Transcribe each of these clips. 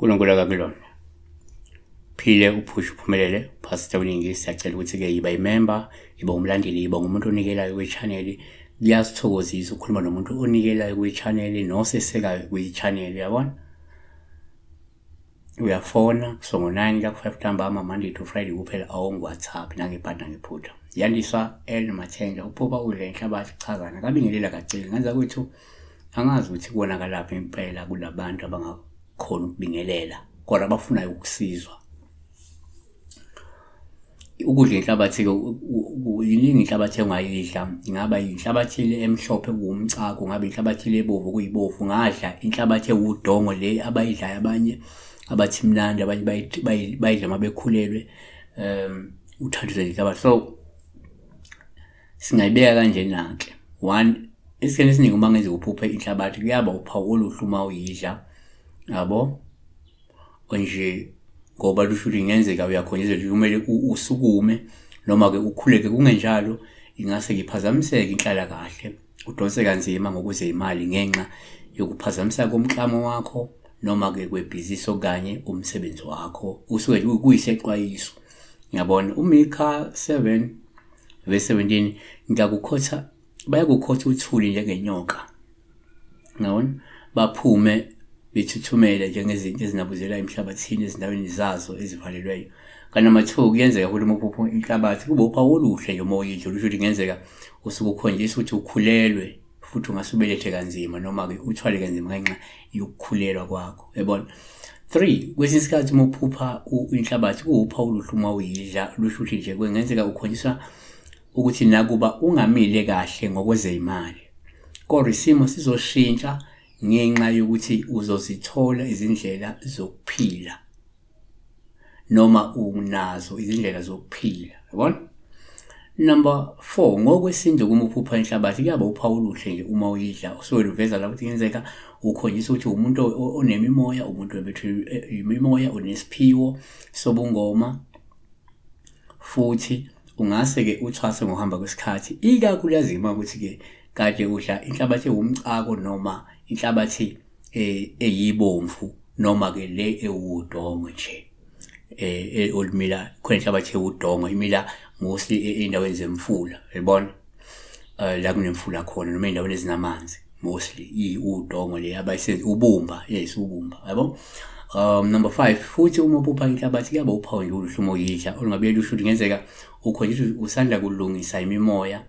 uNkulunkulu akakulona phile uphushe uphumelele pastor uningi siyacela ukuthi-ke yiba imemba yiba umlandeli yiba ngumuntu onikelayo kwichaneli kuyasithokozisa ukukhuluma nomuntu onikelayo kwichaneli nosesekayo kwichaneli yabona uyafona so ngo-9 la ku-5 ntambama monday to friday kuphela awongu-whatsapp nangebhadi nangephutha yandiswa el mathenja uphuba udle inhlabathi chazana kabingelela kaceli ngenza kwethu angazi ukuthi kubonakalaphi impela kulabantu abangakhona ukubingelela kodwa abafunayo ukusizwa ukudla inhlabathi-ke yiningi inhlabathi engayidla ingaba yinhlabathi le emhlophe kuwumcako ngabe inhlabathi le ebovu kuyibovu ngadla inhlabathi ewudongo le abayidlayo abanye abathi mnandi abanye bayidla uma bekhulelwe um uthathize inhlabathi so singayibeka kanjena-ke one esikhathini esiningi uma ngenza uphuphe inhlabathi kuyaba uphawu oluhle uma uyidla yabo nje ngoba lusho ukuthi ingenzeka uyakhonjezwa nje kumele usukume noma-ke ukhuleke kungenjalo ingase ngiphazamiseke inhlala kahle udonse kanzima ngokuze imali ngenxa yokuphazamiseka komklamo wakho noma-ke kwebhizinisi okanye umsebenzi wakho usuke kuyisexwayiso ngiyabona umikha 7 verse 17 ngiyakukhotha bayakukhotha uthuli njengenyoka ngawona baphume bethuthumele njengezinto ezinabuzela emhlabathini ezindaweni zazo ezivalelweyo kanti amathuba kuyenzeka ukuthi uma uphupha inhlabathi kube uphawu oluhle nje uma uyidla olusho ukuthi kungenzeka usuke ukhonjisa ukuthi ukhulelwe futhi ungase ubelethe kanzima noma-ke uthwale kanzima ngenxa yokukhulelwa kwakho yabona three kwesinye isikhathi uma uphupha inhlabathi kuwuphawu oluhle uma uyidla lusho ukuthi nje kungenzeka ukhonjiswa ukuthi nakuba ungamile kahle ngokwezeyimali kodwa isimo sizoshintsha ngenxa yokuthi uzozithola izindlela zokuphila noma unazo izindlela zokuphila yabona number 4 ngokwesintu kumuphupha inhlabathi kuyaba uphawu oluhle nje uma uyidla usuwele uveza lapho ukuthi kenzeka ukhombisa ukuthi umuntu onemimoya umuntu wemimoya unesiphiwo sobungoma futhi ungase-ke uthwase ngokuhamba kwesikhathi ikakhulukazi uma ukuthi-ke kade udla inhlabathi ewumcako noma inhlabathi eh, eyibomvu noma-ke le ewudongo nje eh, eh, olumila khona inhlabathi ewudongo imila mostly e, ey'ndaweni zemfula yabona uh, la kunemfula khona noma endaweni ezinamanzi mostly iwudongo le abayisenzi ubumba yes ubumba yabo um number 5 futhi uma uphupha inhlabathi kuyaba uphawu nje oluhlumo yidla olungabe lusho ukuthi ngenzeka ukhonjiswa usanda kulungisa imimoya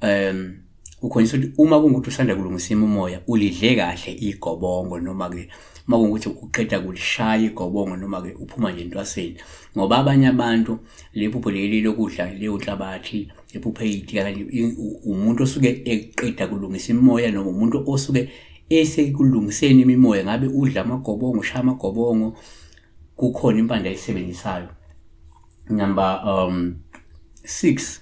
um ukhonjiswa ukuthi uma kungukuthi usanda kulungisa imimoya ulidle kahle igobongo noma ke uma kungukuthi uqeda kulishaya igobongo noma-ke uphuma nje entwaseni ngoba abanye abantu lephupho leli lokudla leyo nhlabathi ephuphe iyiti kanye umuntu osuke eqeda kulungisa imimoya noma umuntu osuke esekulungiseni imimoya ngabe udla amagobongo ushaya amagobongo kukhona impande ayisebenzisayo number um 6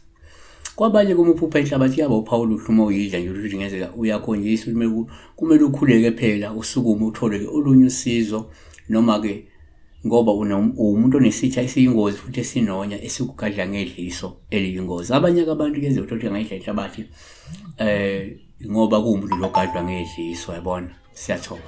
kwabanye komuphupha inhlabathi yaba uphawula uhluma uyidla nje ukuthi ngezeka uyakhonjisa ukuthi kumele ukhuleke phela usukume uthole-ke olunye usizo noma-ke ngoba uwumuntu onesitha esiyingozi futhi esinonya esikugadla ngedliso eliyingozi abanye-ke abantu kuyenzeka ukuthi angayidla inhlabathi um ngoba kuwumuntu logadlwa ngedliso yabona siyathoba